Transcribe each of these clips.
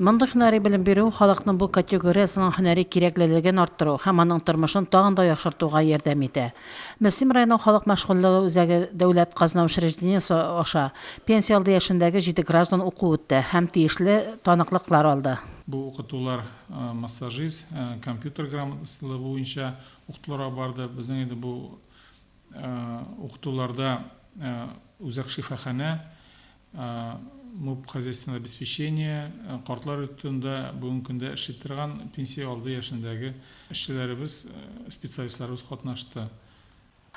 Мондый һөнәри белем бирү халыкның бу категориясенең һөнәри кирәклелеген арттыру һәм аның тормышын тагын да яхшыртуга ярдәм итә. Мөслим районы халык мәшгульлеге үзәге дәүләт казна учреждениесе аша пенсия алды яшендәге җиде граждан уку үтте һәм тиешле таныклыклар алды. Бу укытулар массажист, компьютер грамотасызлыгы буенча укытуларга барды. Безнең инде бу укытуларда үзәк шифаханә муп хозяйственного обеспечения, картлар йортында бүгенге көндә эшли торган пенсия алды яшендәге эшчеләребез, специалистларыбыз катнашты.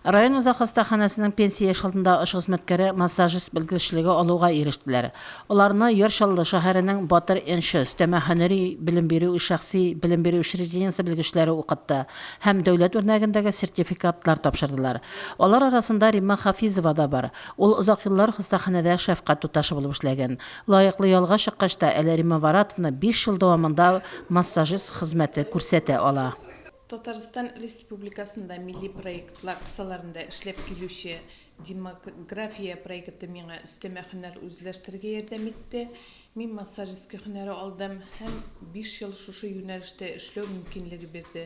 Район үзәк хастаханәсенең пенсия яше алдындагы оч хезмәткәре массажист белгечлеге алуга ирештеләр. Аларны Яр Чаллы шәһәренең Батыр нчы өстәмә һөнәри белем бирү шәхси белем бирү учреждениесе белгечләре укытты һәм дәүләт үрнәгендәге сертификатлар тапшырдылар. Алар арасында Римма Хафизова да бар. Ул озак еллар хастаханәдә шәфкать туташы булып эшләгән. Лаеклы ялга чыккач та, әле Римма Варатовна биш ел дәвамында массажист хезмәте күрсәтә ала. Татарстан Республикасында милли проектлар кысаларында эшләп килүче Демография проекты миңа өстәмә һөнәр үзләштерергә ярдәм итте. Мин массажистка һөнәре алдым һәм биш ел шушы юнәлештә эшләү мөмкинлеге бирде.